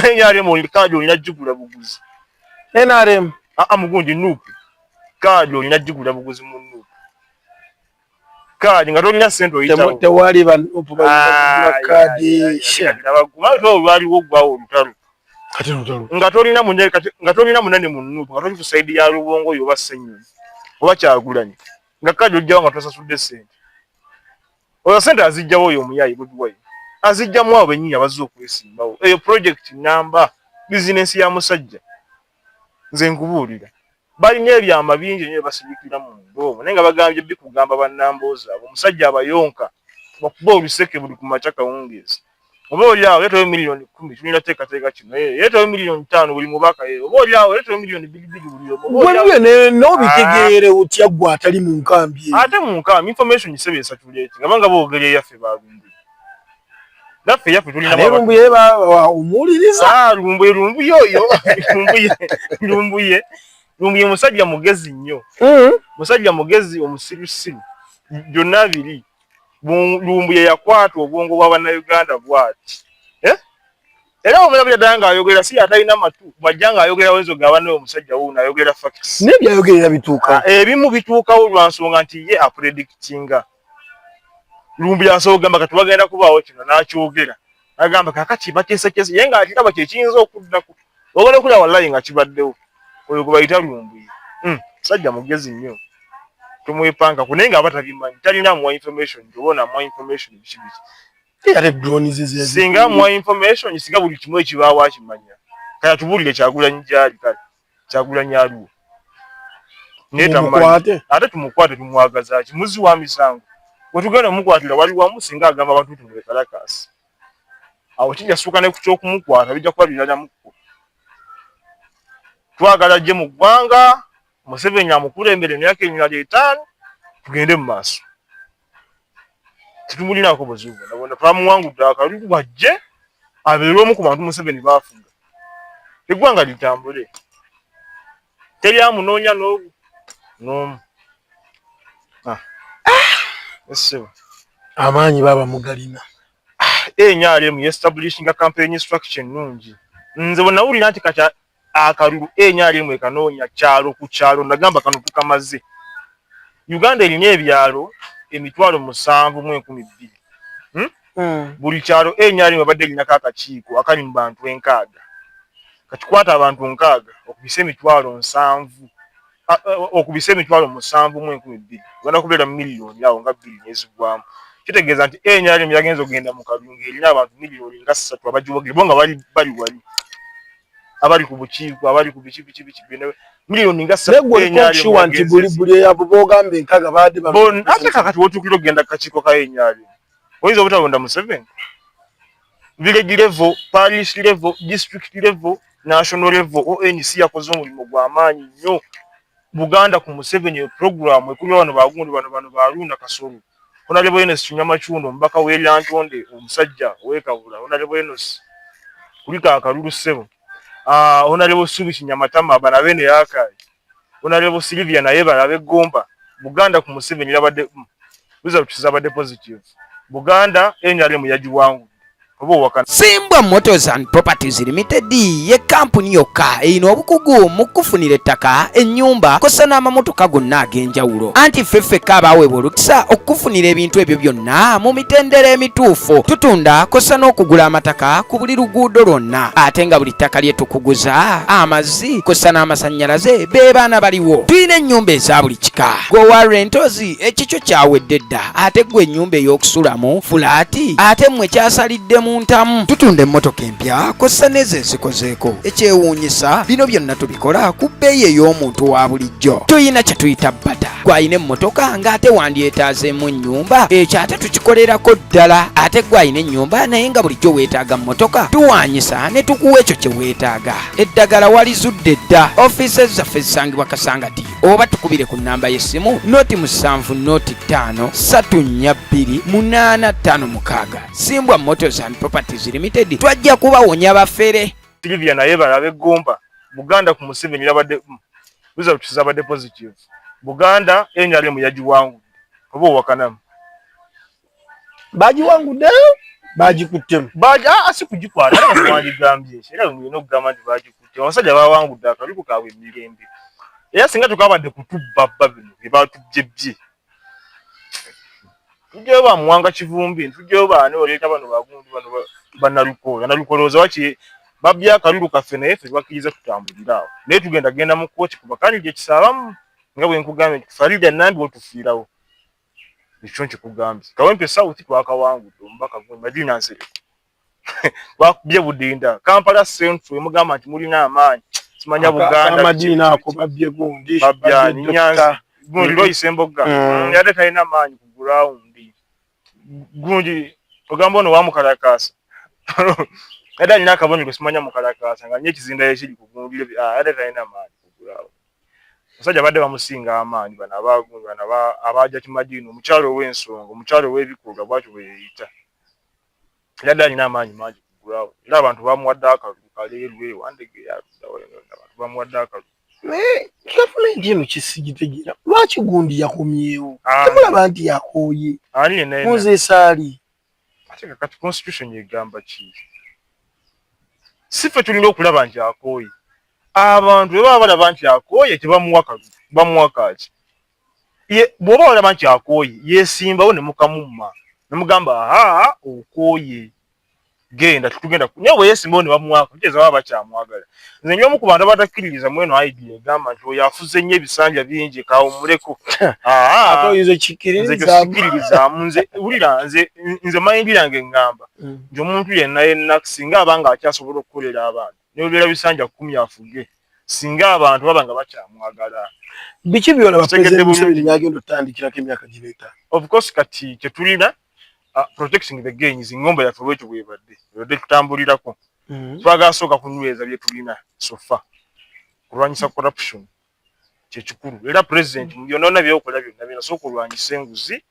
enyalye mu kaadi olina jjigula buguzi nrm aa mugundi nup kaadi olina jjigula buguzi mu nup kaadi nga tolina sente oyitawo tewali kaadi olwaliwo ogwawo olutalo nga tolina munene nga tolina munene mu nuupu nga toli ku sayidi ya lubongo oyo oba ssenyonyi oba kyagulanyi nga kaadi ojjawo nga tosasudde sente oyo sente azijjawo oyo omuyayi budiwayi azijjamu abo bennyini abazze okwesimbawo eyo pulojekiti namba bizinensi ya musajja nze nkubuulira balina ebyama bingi nyo ebasibikira mu munda omwo naye nga bagambye bikugamba banamboozi abo omusajja abayonka bakuba oluseke buli ku makya kawungeezi oba oli awo yetawe miliyoni kumi tulina teekateeka kino eh, yetawe miliyoni taano buli mubaka eh, oba oli awo yetawe miliyoni bigibigi buli omugwebyo n'obitegeere ah. otya gwe atali mu nkambi ate mu nkambi information sebeesa tuleete nga banga boogera eyaffe balumbi naffe yaffe tulinalumbuye omuwuliriza ah, lumbuye lumbuye oyo lumbuye lumbuye lumbuye musajja mugezi nnyo mm. musajja mugezi omusirusiru byonna biri lumbuye yakwata obwongo bwa bannayuganda bwati eh? era omulabira ddala ng'ayogera si atalina matu bwajja ng'ayogera wenzo ga banne omusajja wuuno ayogera fakisi naye byayogerera bituuka ah, ebimu bituukawo lwa nsonga nti ye apredictinga lumbu yasobola okugamba kati bagenda kubaawo kino n'akyogera agamba kakati bateeseteese ye nga akiraba kyekiyinza okuddako ogala okulaba wallayi nga kibaddewo oyo gwe bayita lumbuye hmm, musajja mugezi nnyo tomwepankako naye nga aba tabimanyi talina muwa information oba onamuwa information biki biki singa muwa information singa buli kimu ekibaawo akimanya kaya tubuulire kyagulanyi gyali kale kyagulanyi aliwo netamumanyi ate tumukwate tumwagaza ki muzi wa misango wetugenda omukwatira wali wamu singa agamba abantu nti mubekalakasi awo kijasuuka ne ku kyokumukwata bijja kuba biralamuko twagala gye mu ggwanga museveni amukulembere emyaka emirala etaano tugende mu maaso tetumulinaako buzibu bwonna twamuwangudde akalulu bwajje abeere omu ku bantu museveni baafuga eggwanga litambule teri amunoonya n'omu n'omu ah. essebo amaanyi baaba mugalina ah, enyalemu yestablishinga campaign structure ennungi nze bwe nawulira nti kati akalulu enyalimu ekanoonya kyalo ku kyalo nagamba kano tukamaze uganda erina ebyalo emitwalo musanvu mu enkumi bbiri hmm? hmm. buli kyalo enyalimu abadde erinako akakiiko akali mu bantu enkaaga kakikwata abantu nkaaga okubisa emitwalo nsanvu okubise emitwalo musanvu mu enkumi bbiri ogenda kubeera miliyoni awo nga bbiri nezigwamu kitegeeza nti nrm yagenza okugenda mu kalulu ng'erina abantu miliyoni nga ssatu abagiwogere bo nga bali bali wali abali ku bukiiko abali ku biki biki biki byona miliyoni nga ssatukiwa nti buli buli eyabo boogamba enkaga baade ate kakati wotuukira okugenda ku kakiiko ka nrm oyinza obutalonda museveni village level, parish level, district level, national level. ONC yakoze omulimu gwa maanyi nnyo. Buganda ku Museveni program ekuli bano bagundi bano bano balunda kasoro. Honorable Enos Kinyama Chundo mbaka we Lantonde omusajja we Kabula. Honorable Enos kulika akalulu sebo. Ah, uh, Honorable Subi Kinyama Tama bana bene yaka. Honorable Sylvia naye balabe gomba Buganda ku Museveni yabadde mm, results zabadde positive Buganda NRM yagiwangu Simbwa Motors and Properties Limited ye kampuni yokka eyina obukugu mu kufunira ettaka, ennyumba kosa n'amamotoka gonna ag'enjawulo. Anti ffe ffekka abaaweebwa olukisa okukufunira ebintu ebyo byonna mu mitendera emituufu. Tutunda kosa n'okugula amataka ku buli luguudo lwonna ate nga buli ttaka lye tukuguza amazi amazzi kussa n'amasannyalaze be baana baliwo tulina ennyumba eza buli kika gwe warre ntozi ekikyo kyawedde dda ate gwe ennyumba ey'okusulamu fulaati ate mmwe kyasalidde mu ntamu tutunda emmotoka empya kussa n'ezo ezikozeeko ekyewuunyisa bino byonna tubikola ku bbeeyi ey'omuntu wa bulijjo tuyina kye tuyita bata gwalina emmotoka ng'ate wandyetaazeemu ennyumba ekyo ate tukikolerako ddala ate gwalina ennyumba naye nga bulijjo weetaaga mmotoka tuwaanyisa ne tukuwa ekyo kye weetaaga eddagala walizudde dda ofiisi zaffe zisangibwa kasanga diyo oba tukubire ku nnamba y'essimu noti musanvu noti ttaano satu nnya bbiri munaana ttaano mukaaga simbwa motors and properties limited twajja kubawonya bafere silivia naye balabe gomba buganda ku museveni yabadde mm, results zabadde positive buganda nrm yagiwangudde oba owakanamu bagiwanguddeyo bagikuttemu ah, si kugikwata wagigambye era olina okugamba nti bagikutte abasajja bawangudde akaluku kaabwe emirembe era singa tukabadde kutubba bba bino bye batubye bye tujjayo ba muwanga kivumbi ntujjayo baani oleeta bano bagundi bano banalukoola nalukolooza waki babbye akalulu kaffe naye ffe tubakkiriza tutambulira awo naye tugenda genda mu kkooti kuba kandi gye kisaabamu nga bwe nkugambye nti farida nambi otufiirawo Ekyo nkikugambye. Kawempe South twakawangudde omubaka gwe Madina Nsereko. Bakubye budinda. Kampala Central emugamba nti mulina amaanyi. Simanya Buganda. Madina ako babye gundi. Babya Nyanzi. Gundi loyise mbogga. Mm. Yade talina amaanyi ku ground. Gundi ogamba ono wamukalakaasa. Yade alina akabonero simanya mukalakaasa nga nyo ekizindayo ekiri ku gundi. Ah, yade talina amaanyi ku ground. Musajja badde bamusinga amaanyi bana abagu bana ba abaja kimajino mukyalo w'ensonga mukyalo w'ebikoga bwatu bweyita. Yadde alina amaanyi mangi kugulawo era abantu bamuwadde akalulu kaleerwe wandege yaddawa yona yona abantu bamuwadde akalulu. Naye gavumenti eno kisigitegeera lwaki gundi yakomyewo ah. temulaba nti yakooye muzesaali. ate nga kati constitution egamba ki si ffe tulina okulaba nti akooye abantu bwe baba balaba nti akooye tebamuwa kalu bamuwa kaaki bw'oba olaba nti akooye yeesimbawo ne mukamumma ne mugamba aha okooye genda tetugenda naye bwe yeesimbawo ne bamuwaako kitegeeza baba bakyamwagala nze nyo omu ku bantu abatakkiririza mweno aidi egamba nti oyo afuze nnyo ebisanja bingi kawumuleko nzekikkiririzaamu nze wulira nze nze mayindi yange ngamba mm. nti omuntu yenna yenna singa aba nga akyasobola okukolera abantu nebeera bisanja kumi afuge singa abantu baba nga bakyamwagala biki byona bategedde bulungi byagenda otandikirako emyaka gireeta of course kati kyetulina uh, protecting the gains ngomba yaffe lwekyo bwebadde ebadde tutambulirako mm-hmm. twagala sooka kunyweza byetulina sofa kulwanyisa corruption kyekikulu era president mm-hmm. byonona byokola byonna byona sooka olwanyisa enguzi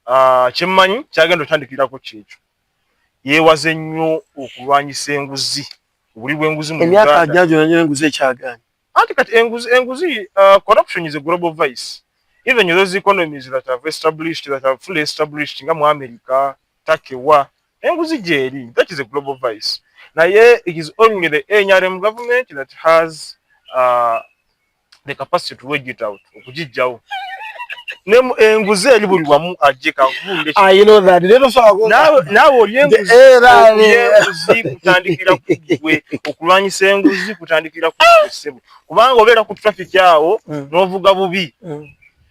ah, kyemmanyi kyagenda otandikirako kyekyo yeewaze nnyo okulwanyisa enguzi obuli bwenguzi mu emyaka ajagyona nyo enguzi ekyagaanyi anti kati enguzi enguzi ah, corruption is a global vice even those economies that have established that have fully established nga mu america takewa Enguzi gyeri. That is a global vice. Naye it is only the NRM government that has uh, the capacity to wage it out. Okujijjawo. Nemu enguzi eri buli wamu ajje kavunde. Ah, you know that. Lero so ago. Nawe nawe olyenguzi. Era enguzi kutandikira kugwe. Okulwanyisa enguzi kutandikira kugwe sebo. Kubanga obera ku traffic yawo mm. novuga bubi. Mm.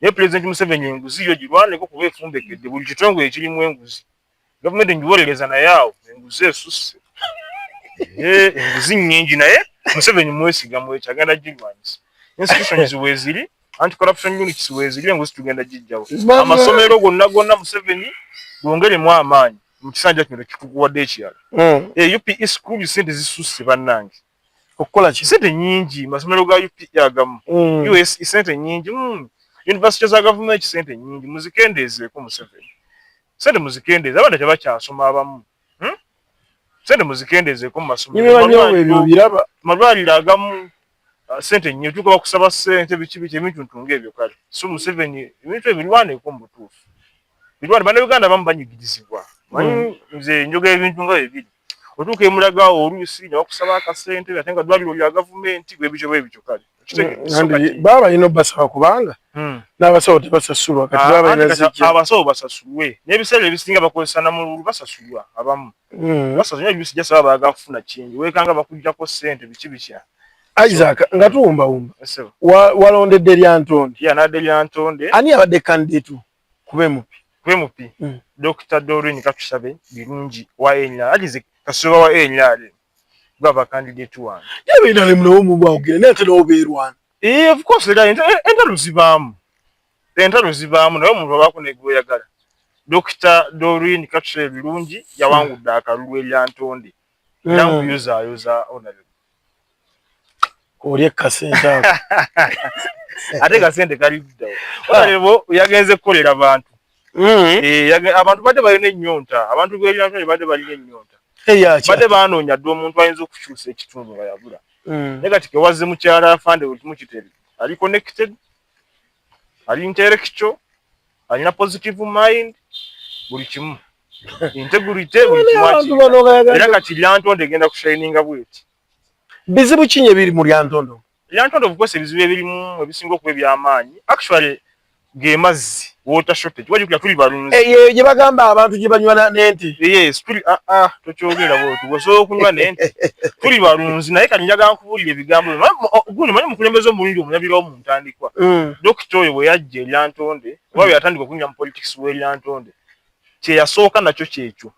naye pulezidenti museveni enguzi yo girwaneko kuba efumbekedde buli kitongole ekirimu enguzi gavumenti ngiwolereza naye awo enguzi esusse enguzi nyingi naye museveni mwesiga mwekyo agenda girwanyisa institutions weziri anti corruption units weziri enguzi tugenda gijjawo amasomero gonna gonna museveni gwongeremu amaanyi mu kisanja kino kikukuwadde ekirala hmm. eh, upe school sente zisusse bannange okukola ki sente nyingi masomero ga UPE agamu mm. US e sente nyingi mm. university za government sente nyingi muzikendeze ko museveni sente muzikendeze abana taba kyasoma abamu hmm? sente muzikendeze ko masomero niwe banyo ebyo biraba malwali agamu uh, sente nyingi tuko bakusaba sente bichibi che mintu ntunge ebyo kale so museveni mintu ebilwane ko mbutufu bilwane bana Uganda bamu banyigidizibwa mm. mzee njoga ebintu nga ebili otuuka emulaga oluusi ne bakusaba akasente ate nga ddwaliro lya gavumenti bwebityo bwebityo kale baba balina obasaba kubanga hmm. n'abasawo tebasasulwa ah, abasawo basasulwe n'ebiseera ebisinga bakozesa namululu basasulwa abamu hmm. basasulwa ebisijasaba baagala kufuna kingi wekanga bakujjako sente biki bitya isaac nga tuwumbawumba walondedde lyantonde yanadde lyantonde ani abadde kandidetu kuba emupi kuba emupi mm. dokita dorin katusabe birungi wa nrm agize kasuba wa nrm gwaba kandidate wange yaba nrm nawo mubawogera naye ate nawo beerwana ee eh, of course era entalo zibaamu entalo zibaamu naye omuntu abaako negweyagala dokita dorin katusabe birungi yawangudde akalulu eryantonde olye kasente ako ate kasente kali luddawo olebo yagenze kukolera bantu hmm. eh, abantu badde balina ennyonta abantu belinatoni badde balina ennyonta badde banoonya dde omuntu ayinza okukyusa ekitundu nga yabula hmm. naye kati kewazze mukyala afande otumukiteri ali connected ali intellectual alina positive mind buli kimu integrity abantu bano bagala era kati lyantonde genda ku shining bweti bizibu kinyi ebiri mu lyantonde lyantonde bukose bizibu ebiri mu ebisingo ku ebya amaanyi actually ge mazzi water shortage waje kula tuli balunzi eh ye je bagamba abantu je banywa na nenti yes tuli ah ah tokyogera bo tu waso kunywa nenti tuli balunzi naye kati njaga nkubulira ebigambo guno manyi mukulembezo mulindi omunyabira omu ntandikwa mm. dokito oyo bwe yajje lyantonde mm. wawe atandika kunywa mu politics we lyantonde kye yasooka nakyo kyekyo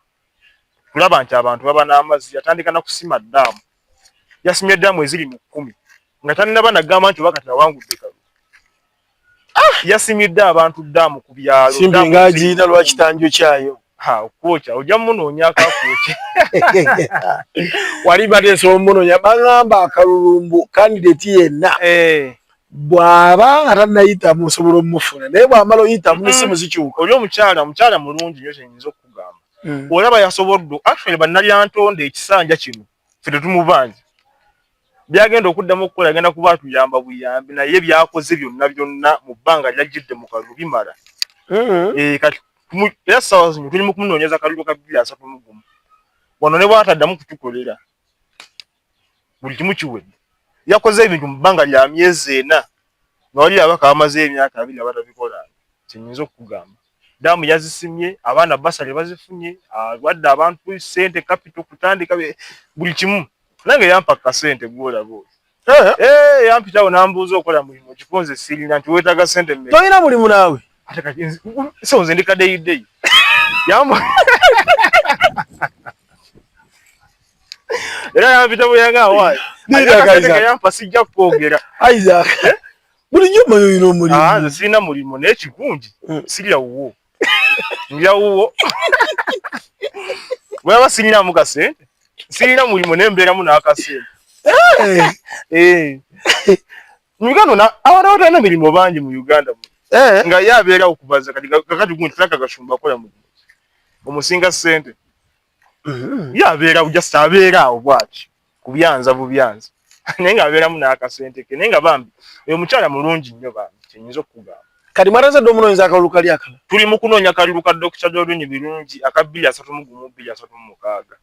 kulaba nti abantu baba n'amazzi. Yatandika na kusima ddaamu, yasimye ddaamu eziri mu kkumi nga tannaba na gamba nti oba kati awangudde kalu. Ah, yasimidde abantu ddaamu ku byalo. Simbi nga agirina lwa kitanjo kyayo. Ha, okwokya, ojja munoonya akakwokya. Wali bateesa omunoonya, bangamba akalulumbu kandideti yenna. Eh. bw'aba nga tannayitamu osobola omufuna naye bw'amala oyitamu n'essimu zikyuka. Oli omukyala omukyala mulungi nnyo kye nyinza okukugamba. Hmm. Olaba yasobodde actually bannalyantonde ekisanja kino ffe tetumubanja byagenda okuddamu okukola agenda kuba atuyamba buyambi naye byakoze byonna byonna mu bbanga lyajjidde mu kalulu bimala mm-hmm. eh, kati era ssaawa zino tuli mu kumunoonyeza kalulu ka bbiri asatu mu gumu wano ne bwataddamu kutukolera buli kimu kiwedde yakoze ebintu mu bbanga lya myezi ena nga wali abaka bamaze emyaka abiri nga batabikola kyenyinza okukugamba daamu yazisimye abaana basale bazifunye awadde abantu sente kapito kutandika buli kimu nange yampa kasente gwolaba oyo eh, eh, yampitawo nambuuza okola mulimu kikunze sirina nti wetaga sente tolina mulimu naawe sonze ndikadeyideyi yamba Era yampita buyanga awaayi. Nira kaiza. Yampa sijja kwogera. Isaac. Eh? Buli jjo mayo yino omulimu. Ah, nze sirina mulimu naye kigungi. Hmm. Sirya wuwo. Ndya wuwo. Bwaba sirina mu kasente. Sirina mulimu naye mbeeramu n'akasente. Eh. eh. Mu Uganda na abantu abatalina mirimu bangi mu Uganda. Eh. Nga ye abeerawo kubaza kati kakati gunti tulaka gashumba kola mu. Omusinga sente. Mm-hmm. ye abeera just abeera awo bwaki kubyanza bubyanza naye nga abeeramu n'akasente ke naye nga bambi oyo mukyala mulungi nnyo bambi kyenyinza okukugamba kati mwarazadde omunoonyeza akalulu kali akala tuli mu kunoonya kalulu ka dokita jolini birungi aka bbiri asatu mu gumu bbiri asatu mu mukaaga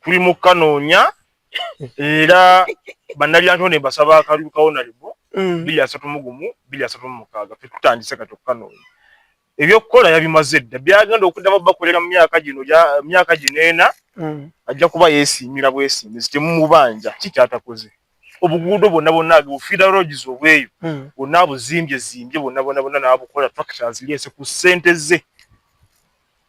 tuli mu kukanoonya era bannalyanto ne basaba akalulu kawonalibo mm. bbiri asatu mu gumu bbiri asatu mu mukaaga fe tutandise kati okukanoonya ebyokukola yabimaze dda byagenda okuddamu bakolera mu myaka gino myaka gino ena mm. ajja kuba yeesiimira bwesimbizi temumubanja ki kyatakoze obuguudo bwonna bwonna agebufiira roges obweyo mm. bwonna abuzimbye zimbye bwonna bwonna bwonna naabukola tractors lyese ku ssente ze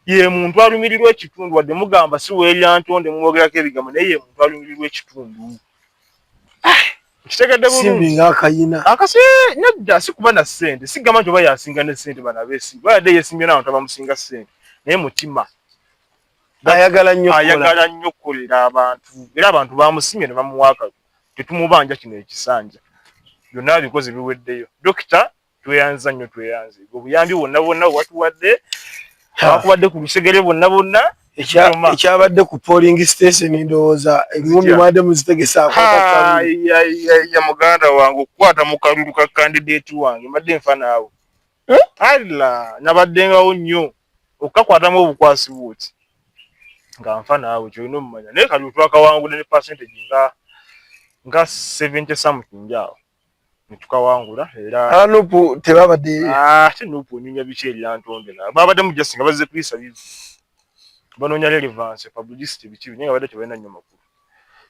ye muntu alumirirwa ekitundu wadde mugamba si weerira ntonde mwogerako ebigambo naye ye muntu alumirirwa ekitundu ah, kitegedde bulungi nga akayina akasi nedda sikuba na sente sigamba nti oba yasinga ne sente bana besi bayadde yesimbye nawo tabamusinga sente naye mutima ayagala nnyo ayagala nnyo okukolera abantu era abantu bamusimye ne bamuwaaka tetumubanja kino ekisanja byonna bikozi biweddeyo dokita tweyanza nnyo tweyanze obuyambi bwonna bwonna watuwadde wakubadde ku lusegere bwonna bwonna ekyabadde ku polling station ndowooza engumi mwade muzitegesaakya muganda wange okukwata mu kalulu ka kandidate wange mbadde nfa naawe eh? alla nabaddengawo nnyo okukakwatamu obukwasi bwoti nga nfa naawe kyolina omumanya naye kalulu twakawangudde ne percentage nga nga 70 something awo netukawangula era ah, nupu tebabadde ah, ate nupu onyumya biki eryantonde na babadde mu just nga bazze kuyisa bizi banoonya relevance publicity biki naye nga badde tebalina nnyo makulu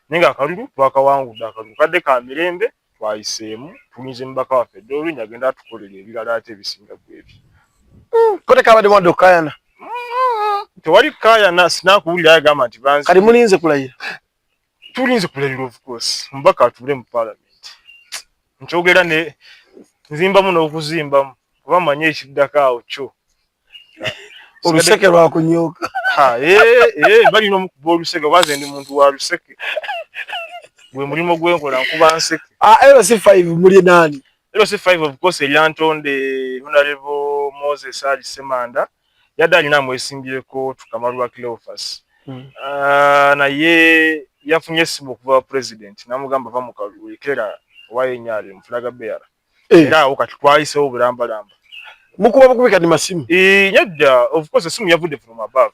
naye nga akalulu twakawangudde akalulu kadde ka mirembe twayiseemu tulinze mubaka waffe dde olunya agenda atukolera ebirala ate ebisinga gwebyo hmm, kote kabadde mwadde okukayana hmm, tewali kukayana sinakuwulira yagamba nti banzi kati mulinze kulayira tulinze kulabira of course mbaka atule mu parliament nkyogera ne nzimbamu n'okuzimbamu kuba manyi ekiddako awo kyo oluseke lwakunyooka balina omukuba oluseke oba nze ndi muntu wa luseke gwe mulimu gwenkola nkuba nseke ah, lc five muli naani lc five of course eryantonde honorable moses ali semanda yadde alina amwesimbyeko tukamalwa cleofas hmm. ah, naye yafunye esimu okuva president namugamba va mukalwekera owayenyali mufulaga beara eh. era awo kati twayisewo bulambalamba mukuba bukubi kati masimu eh, nedda of course esimu yavudde from above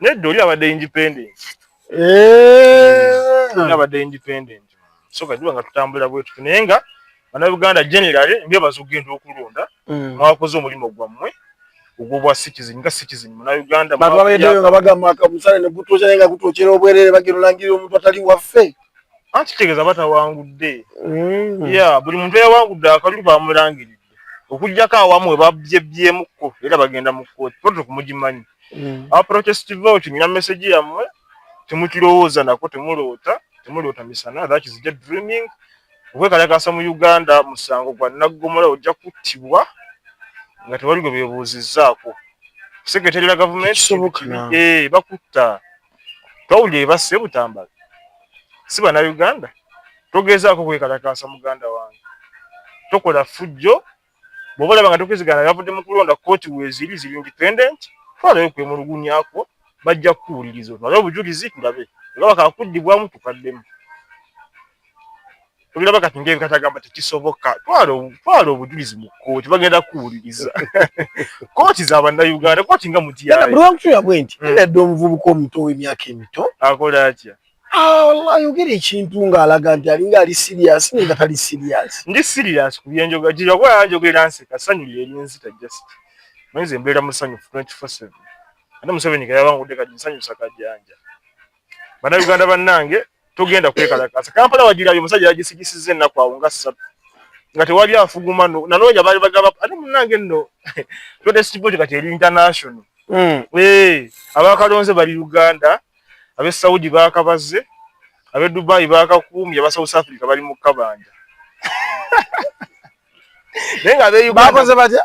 nedda oli abadde independent eh. abadde independent so kati nga tutambula bwetutu naye nga banauganda generally mbebaza okugenda okulonda mm. mwakoze omulimu gwammwe ogwobwa citizen nga citizen munauganda bantu babeedeyo nga bagamba akamusale ne gutuuza naye nga gutuukira obwerere bagenda olangirira omuntu atali waffe anti kitegeeza batawangudde mm. ya buli muntu eyawangudde akalulu bamulangirira okujjako awamu webabyebbyemukko era bagenda mu kkooti proto kumugimanyi mm. abaprotest vote nina meseji yammwe temukirowooza nako temuloota temuloota misana that is just dreaming okwekalakasa mu uganda musango gwa naggomola ojja kuttibwa nga tewali gwe bebuuzizzaako sekretary la gavumenti eh, bakutta twawulira ebasse butambala si banauganda togezaako kwekalakaasa muganda wange tokola fujjo bwoba olaba nga tokwezigana yavudde mu kulonda kooti weeziri ziri independent twalayo kwemulugunyakwo bajja kukuwuliriza otwale obujulizi tulabe oba bakakuddibwamu tukaddemu obiraba kati ngaebikatagamba tekisoboka twala obujulizi mu kooti bagenda kuwuliriza kooti za bannauganda kooti nga mutyaolwakutuya bwe nti hmm. nadde omuvubuka omuto ow'emyaka emito akola atya ah, ayogera ekintu ng'alaga nti alinga ali siriyasi naye nga tali siriyasi ndi siriyasi ku byenjoga gyeyakuba yanjogera nseka sanyu lyerinzita just mwenze embeera musanyufu 24/7 ate museveni gayabangudde kati nsanyusa kajanja bannauganda bannange togenda kwekalakaasa kampala wagirabye omusajja yagisigisiza ennaku awo nga ssatu nga tewali afuguma nanoonya baali bagaba ate munange nno totesitiboti kati eri international hmm. eh, abakalonze bali uganda abe saudi bakabaze abe dubai bakakuumye aba south africa bali mu kabanja naye nga abe uganda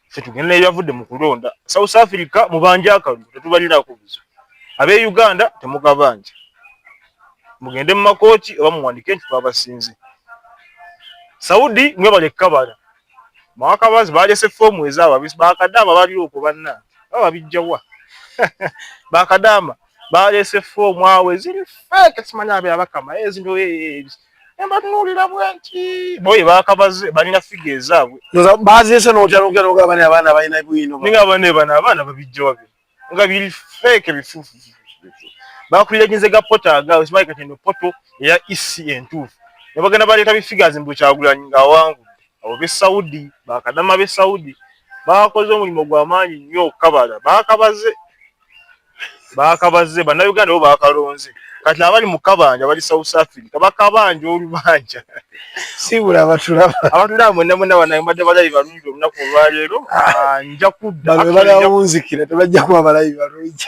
ffe tugenda ebyavudde mu kulonda south africa mubanja akalulu tetubalinaako buzo abe uganda temugabanja mugende mu makooti oba muwandike nti twabasinze saudi mwebale kabala mwakabazi balese foomu ezaabo bakadaama baliwo ku banna baba bijjawa bakadaama balese foomu awo eziri feeke simanya abe abakama ezinto eh, eh, eh, nebatunuulira bwenti boye bakabaze balina figa ezaabwe baziise nokyanokyanoga bani abaana balina bwino ninga bane bano abaana babijjawa bino nga biri feeke bifuufu bakulira kinze ga poto aga okimanyi kati eno poto eya ec entuufu nebagenda baleeta bifigazi mbu kyagulanyi ngaawangudde abo be saudi bakadama be saudi bakoze omulimu gwamaanyi nnyo okukabala bakabaze baakabazze bannayuganda bo baakalonze kati abali mu kabanja bali south africa bakabanja olubanja sibula abatulaba abatulaba mwena mwena banaye mbadde balabi balungi olunaku olwaleero ah, nja kudda bano balawunzikira tebajja kuba balabi balungi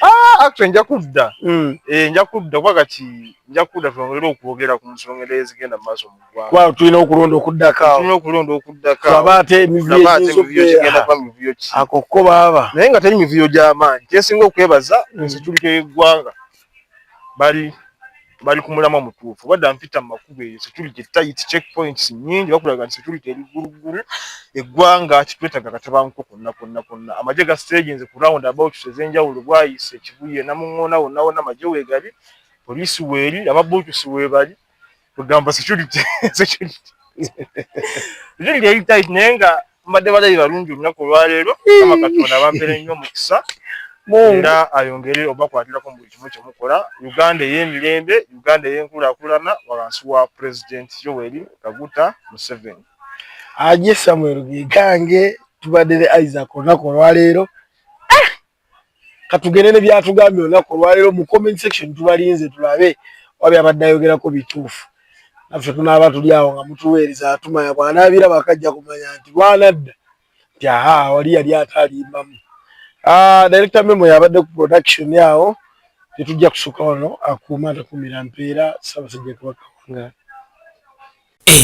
ah, actually nja kudda hmm. eh, nja kudda kuba kati nja kudda twongere okwogera ku nsonga era ezigenda mu maaso mu Kwa tulina okulonda okuddako awo. Tulina okulonda okuddako awo. Tulaba ate emivuyo egizo kugenda kwa mivuyo ki. Ako ko baaba. Naye nga teri mivuyo gy'amaanyi. Kyesinga okwebaza mm. ensiturika y'eggwanga bali bali ku mulamwa mutuufu badda mpita mu makubo eyo security tight check points nyingi bakulaga nti security eri gguluggulu eggwanga kitwetaga katabanko konna konna konna amagye ga staginze ku round about ez'enjawulo bwayise ekibuye namuŋŋoona wonna wonna amagye weegali poliisi weeri ababuutusi weebali kugamba security security security yali tight naye nga mbadde balabi balungi olunaku olwaleero kama katonda bampere nnyo omukisa era ayongere obakwatirako mu buli kimu kyemukola uganda ey'emirembe uganda ey'enkulakulana wansi wa president yoweri kaguta museveni aje samuel gigange tubadde ne isaac olunaku olwaleero katugende ne byatugambye olunaku olwaleero mu comment section tubalinze tulabe wabi abadde ayogerako bituufu naffe tunaaba tuli awo nga mutuweereza atumanya bwanaabira bakajja kumanya nti lwanadda nti aha wali yali ataalimbamu ah, director memo yabadde ku production awo tetujja kusuka wano akuuma takumira mpeera sabasajja kabaka wangaala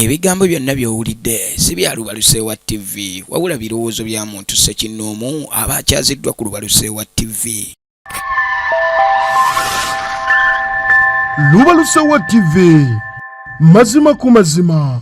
Ebigambo byonna by'owulidde si bya Lubaluseewa wa TV wabula birowoozo bya muntu ssekinnoomu aba akyaziddwa ku Lubaluseewa wa TV. Lubaluseewa wa TV mazima ku mazima.